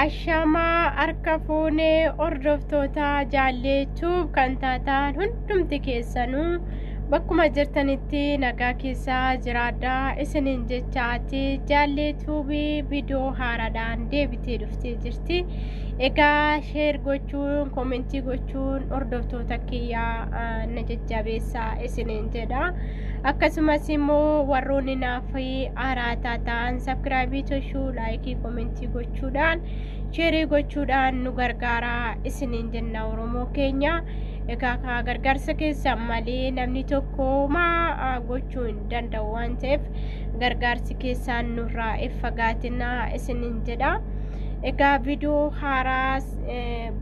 Ashamaa harka fuunee hordoftoota jaallee tuub kan taataan hundumti keessanuu bakkuma jirtanitti nagaa keessaa jiraadhaa isiniin jechaati jaallee tuubii viidiyoo haaraadhaan deebitee dhuftee jirti. Egaa sheer gochuun koomentii gochuun hordoftoota kiyyaa na jajjabeessaa isiniin jedha. akkasumas immoo warroonni naaf araataa ta'an sabkiraabii toshuu laayikii komentii gochuudhaan sheerii gochuudhaan nu gargaaraa isiniin jenna oromoo keenya egaa kaa gargaarsa keessan malee namni tokko maa gochuu hin danda'u waan ta'eef gargaarsi keessaan nurraa if fagaatinaa isiniin jedha egaa viidiyoo haaraas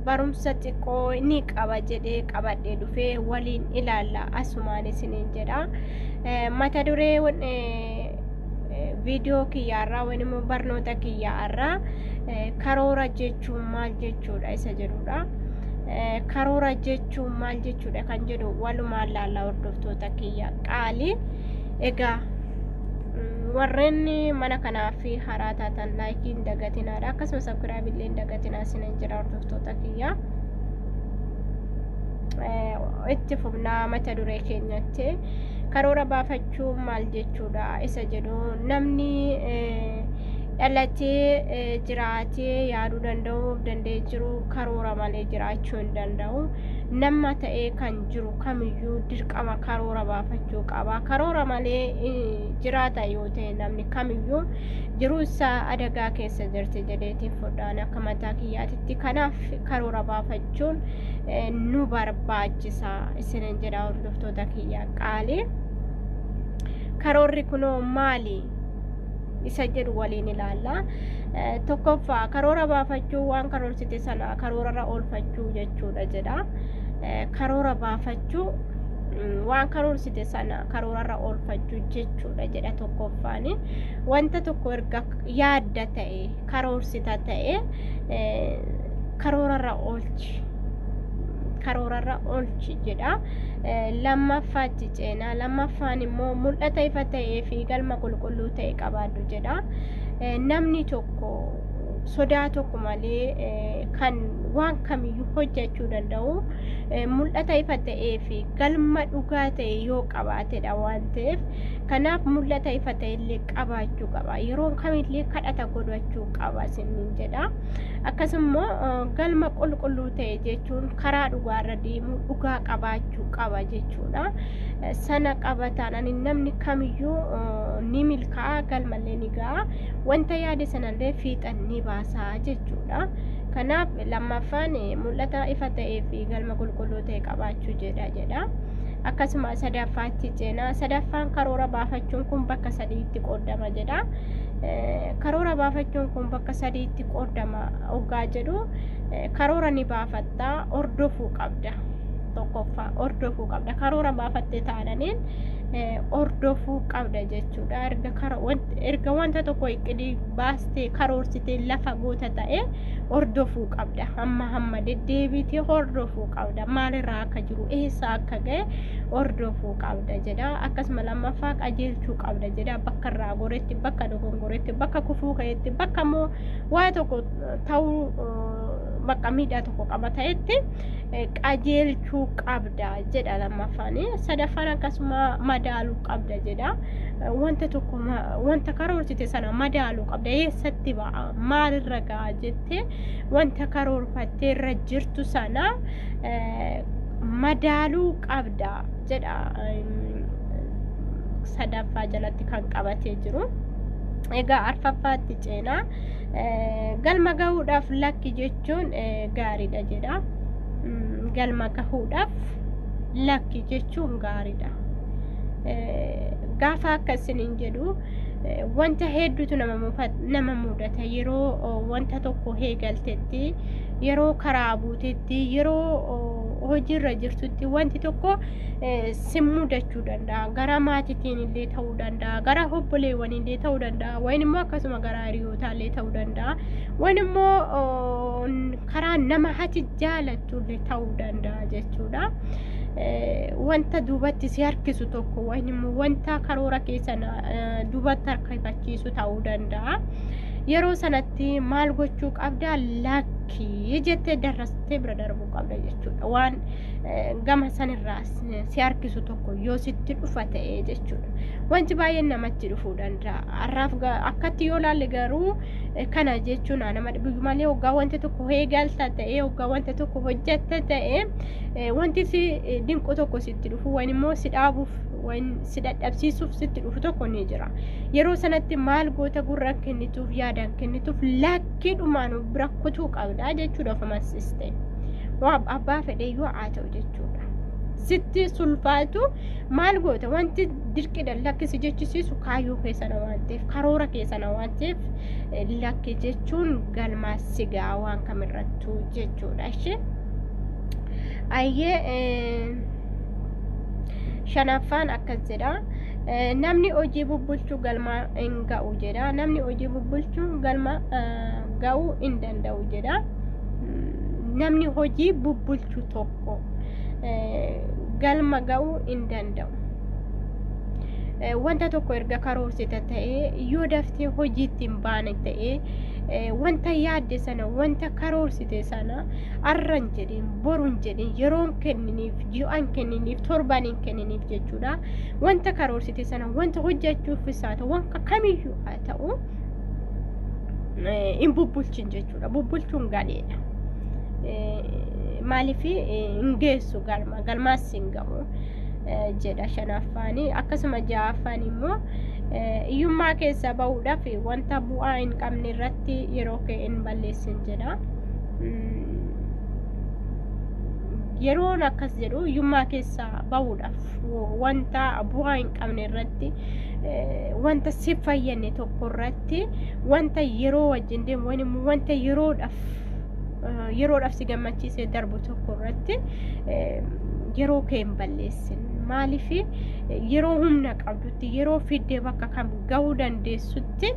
barumsa xiqqoo ni qaba jedhee qabadhee dhufee waliin ilaalla asumaan isiniin jedha mata duree viidiyoo kiyyaarraa waan immoo barnoota kiyyaarraa karoora jechuun maal jechuudha isa jedhudha karoora jechuun maal jechuudha kan jedhu walumaan laalla hordoftoota kiyya qaalii egaa warreen mana kanaaf haraa taatan laayikiin dagatinaadha akkasumas akkiraabillee dagatinaa jira hordoftoota kiyyaa itti fufnaa mata duree keenyatti karoora baafachuu maal jechuudha isa jedhu namni dhalatee jiraatee yaaduu danda'uuf danda'ee jiru karoora malee jiraachuu hin danda'u nama ta'ee kan jiru kamiyyuu dirqama karoora baafachuu qaba karoora malee jiraata yoo ta'e namni kamiyyuu jiruu isaa adagaa keessa jirti jedheetiin fudhaan akka mataa kiyyaatitti kanaaf karoora baafachuun nu barbaachisa isinin jedha hordoftoota kiyya qaalii karoorri kunoo maali isa jedhu waliin ilaalla tokkoffaa karoora baafachuu waan karoorsite sana karoorarra oolfachuu jechuudha jedha karoora baafachuu waan karoorsite sana karoorarra oolfachuu jechuudha jedha tokkoffaanii wanta tokko erga yaadda ta'e karoorsita ta'e karoorarra oolchi karoorarra oolchi jedha lammaffaatti ceenaa lammaffaan immoo mul'ata ifa ta'ee fi galma qulqulluu ta'e qabaadhu jedha namni tokko sodaa tokko malee kan waan kamiyyuu hojjechuu danda'u mul'ata ifa ta'ee fi galma dhugaa ta'e yoo qabaatedha waan ta'eef Kanaaf mul'ata ifa ta'ellee qabaachuu qaba. Yeroo kamillee kadhata godhachuu qaba isiniin jedha. Akkasummoo eh, galma qulqulluu ta'e jechuun karaa dhugaarra deemuu dhugaa qabaachuu qaba jechuudha. Eh, Sana qaba taanaan namni kamiyyuu eh, ni milkaa'a galmallee ni ga'a. Wanta yaade sanallee fiixan ni baasa jechuudha. Kanaaf lammaffaan eh, mul'ata ifa ta'ee fi galma qulqulluu ta'e qabaachuu jedha jedha. akkasuma sadaffaatti ceena sadaffaan karoora baafachuun kun bakka sadiitti qoodama jedha karoora baafachuun kun bakka sadiitti qoodama oggaa jedhu karoora ni baafatta hordofuu qabda tokkoffaa hordofuu qabda karoora baafatte taananiin hordofuu qabda jechuudha erga wanta tokko iqidii baastee karoorsitee lafa goota ta'e hordofuu qabda hamma hamma deddeebitee hordofuu qabda maalirraa akka jiru eessa akka ga'e hordofuu qabda jedha akkasuma lammaffaa qajeelchuu qabda jedha bakka irraa goretti bakka dogongoretti bakka kufuu ka'etti bakka immoo waa tokko ta'uu bakka miidhaa tokko qaba ta'etti qajeelchuu qabda jedha lammaffaan sadaffaan akkasuma madaaluu qabda jedha wanta tokko wanta karoorsite sana madaaluu qabda eessatti ba'a maalirra ga'a jettee wanta karoorfattee irra jirtu sana madaaluu qabda jedha sadaffaa jalatti kan qabatee jiru. Egaa arfaffaatti ceenaa galma gahuudhaaf lakki jechuun gaariidha jedha. Galma gahuudhaaf lakki jechuun gaariidha. Gaafa akka isiniin jedhu wanta hedduutu nama mudata yeroo wanta tokko heegaltetti yeroo karaa buutetti yeroo hojiirra jirtutti wanti tokko si mudachuu danda'a gara maatiitiin illee ta'uu danda'a gara obboleewwan illee ta'uu danda'a wayin immoo akkasuma gara hiriyootaa illee ta'uu danda'a wayin immoo karaa nama hati jaalattu illee ta'uu danda'a jechuudha. wanta duubatti si harkisu tokko wayin immoo wanta karoora keessan duubatti harkifachiisu ta'uu danda'a. yeroo sanatti maal gochuu qabda lakkii jettee darrastee bira darbuu qabda jechuudha waan eh, gama sanirraa si- si harkisu tokko yoo sitti dhufa ta'e jechuudha wanti baay'een namatti dhufuu danda'a har'aaf ga- akkatti yoo laalle garuu eh, kana jechuun haa nama dhibu malee hoggaa wanti tokko eegalta ta'e hoggaa wanti tokko hojjetta ta'e eh, wanti si eh, dinqu tokko sitti dhufu waan immoo si dhaabuuf waan si dadhabsiisuuf sitti dhufu tokko ni jira. Yeroo sanatti maal goota gurra kennituuf yaadaan kennituuf lakkiidhumaan bira kutuu qabda jechuudha of amansiiste. Waa abbaa fedheyyuu haa ta'u jechuudha. Sitti sulfaatu maal goota wanti dirqidhaan lakkisi jechisiisu kaayyoo keessana waan ta'eef karoora keessana waan ta'eef lakki jechuun galmaa sigaa waan kamirrattuu jechuudha ishee. Ayyee. shanaffaan akkas jedha eh, namni hojii bubbulchuu galma hin ga'u jedha namni hojii bubbulchuu galma eh, ga'uu hin danda'u jedha Mm, namni hojii bubbulchu tokko eh, galma ga'uu hin danda'u Eh, wanta tokko erga karoorsite ta'ee yoo daftee hojiitti hin baane ta'ee eh, wanta yaadde sana wanta karoorsite sana arran jedhin borun jedhin yeroon kenniniif ji'aan kenniniif torbaniin kenniniif jechuudha wanta karoorsite sana wanta hojjechuuf isaa ta'u wanta kamiyyuu haa ta'u hin bubbulchin jechuudha bubbulchuun galeedha maaliif hin geessu galma galmaas hin ga'u jedha shanaffaan akkasuma ja'affaan immoo hiyyummaa keessa ba'uudhaaf wanta bu'aa hin qabne irratti yeroo kee hin balleessin jedha. yeroon akkas jedhu hiyyummaa keessa bahuudhaaf wanta bu'aa hin qabne irratti wanta si fayyadne tokko irratti wanta yeroo wajjin deemu wani wanta yeroodhaaf yeroodhaaf si gammachiisee darbu tokko irratti yeroo kee hin balleessin maaliif yeroo humna qabdutti yeroo fiddee bakka kam gahuu dandeessutti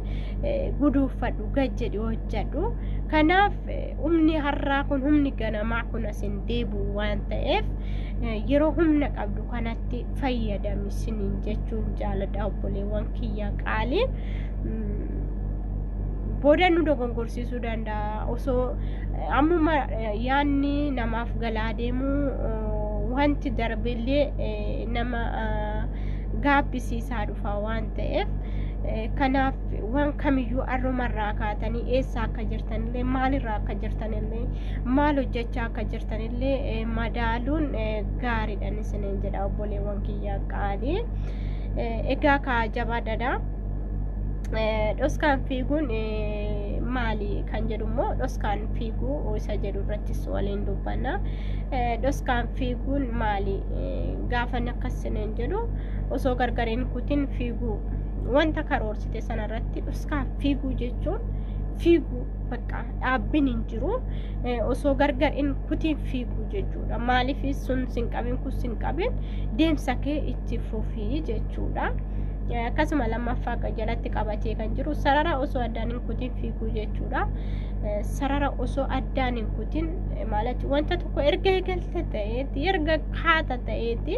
guduunfadhu gad jedhi hojjedhu kanaaf humni har'aa kun humni ganamaa kun as hin deebi'u waan ta'eef yeroo humna qabdu kanatti fayyadami siniin jechuun jaaladha obboleewwan kiyya qaalii booda nu dogongorsiisuu danda'a osoo ammuma yaanni namaaf galaa deemu wanti darbeellee nama gaabbisiisaa dhufa waan ta'eef kanaaf waan kamiyyuu arrumarraa kaatanii eessa akka jirtanillee maalirraa akka jirtanillee maal hojjechaa akka jirtanillee eh, madaaluun eh, gaariidhaan isiniin jedha obboleewwan kiyya qaalii Eh, egaa kaa jabaadadha Eh, dhoskaan fiiguun eh, maali kan jedhu immoo dhoskaan fiiguu isa jedhu irrattis waliin dubbanna Eh, dhoskaan fiiguun maali Eh, gaafan akkas isiniin jedhu osoo gargariin kutin fiiguu wanta karoorsite sana irratti dhuskaan fiiguu jechuun fiiguu bakka dhaabbin hin jiru osoo gargar hin kutiin fiiguu jechuudha maaliif sun sin qabin kun sin qabin deemsa kee itti fufii jechuudha. akkasuma lammaffaa akka jalatti qabatee kan jiru sarara osoo addaan hin kutin fiiguu jechuudha. Sarara osoo addaan hin kutin maalati wanta tokko erga eegalte ta'eeti erga kaata ta'eeti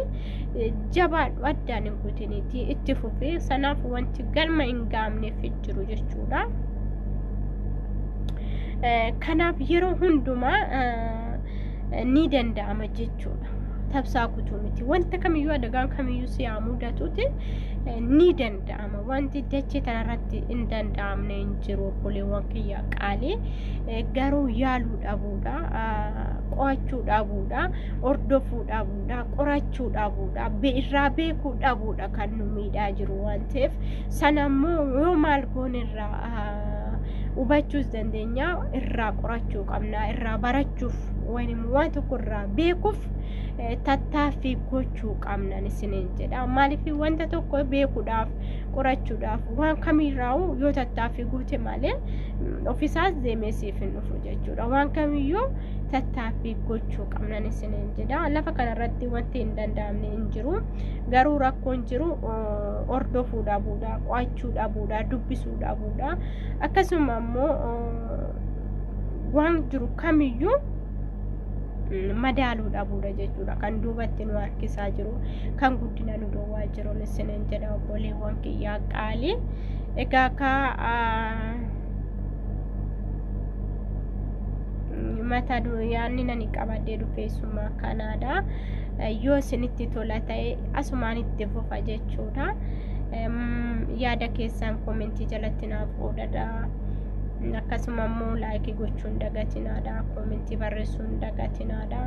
jabaadhu addaan hin kutin. isinitii itti fufee sanaaf wanti galma hin gaamneef hin jiru jechuudha. Eh, Kanaaf yeroo hundumaa eh, ni danda'ama jechuudha. Tabsaa kutuu miti. Wanta kamiyyuu adagaan kamiyyuu si haa mudatuuti eh, ni danda'ama. Wanti dachee tanarratti hin danda'amne hin jiru obboleewwan kiyya qaalii. Eh, Garuu yaaluu dhabuudha. ah, Qo'achuu dhabuudha. Hordofuu dhabuudha. dha qorachuu dhabuudha irraa beekuu dhabuudha kan nu miidhaa jiru waan ta'eef sana immoo yoo maal goone irraa hubachuus dandeenya irraa qorachuu qabna irraa barachuuf wayim waan tokko irraa beekuuf tattaaffii gochuu qabna isiniin jedha maaliif wanta tokko beekuudhaaf qorachuudhaaf waan kamiirraa'u yoo tattaaffii goote malee ofisaas deemee siif hin dhufu jechuudha waan kamiyyuu tattaaffii gochuu qabnan isiniin jedha lafa kanarratti wanti hin danda'amne hin jiru garuu rakkoon jiru hordofuu dhabuudha qo'achuu dhabuudha dubbisuu dhabuudha akkasuma immoo waan jiru kamiyyuu madaaluu dhabuudha jechuudha kan duubatti nu harkisaa jiru kan guddina nu dhoowwaa jiruun isiniin jedha obboleewwan kiyyaa qaalii egaa kaa mata yaanni nani qabadee dubbeessummaa kanaadha yoo isinitti tola ta'e asumaan itti fufa jechuudha yaada keessaan koomentii jalatti naaf qoodadha akkasuma immoo laayikii gochuun dagatinaadha koomentii barreessuun dagatinaadha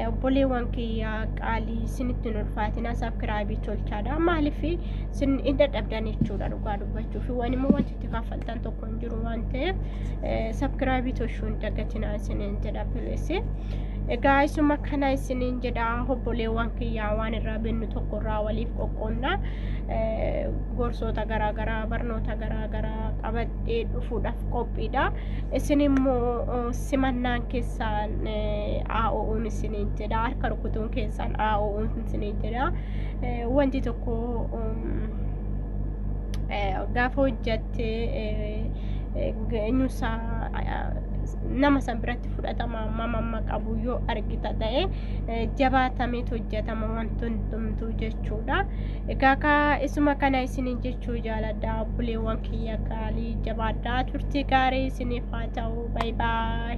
obboleewwan kiyya qaalii isinitti hin ulfaatina sabkiraabii tolchaadha maaliif isin hin dadhabdan jechuudha dhugaa dubbachuuf waan immoo wanti itti kaffaltan tokko hin jiru waan ta'eef sabkiraabii toshuu hin dagatinaa isiniin jedha pileessi. Egaa isuma kana isiniin jedha obboleewwan kiyyaa waan irraa binnu tokko irraa waliif qoqqoonna gorsoota garaagaraa barnoota garaagaraa qabadhee dhufuudhaaf qophiidha. Isin immoo simannaan keessaan aa'o'uun isiniin jedha harka rukutuun keessaan aa'o'uun isiniin jedha wanti tokko gaafa hojjatte eenyusaa nama san biratti fudhatama hammam amma qabu yoo argita ta'e jabaatamee hojjatama wanti hundumtuu jechuudha. Egaa kaa isuma kana isiniin jechuu jaaladha obboleewwan kiyya gaarii jabaadhaa turtii gaarii isiniif haa ta'u baay baay.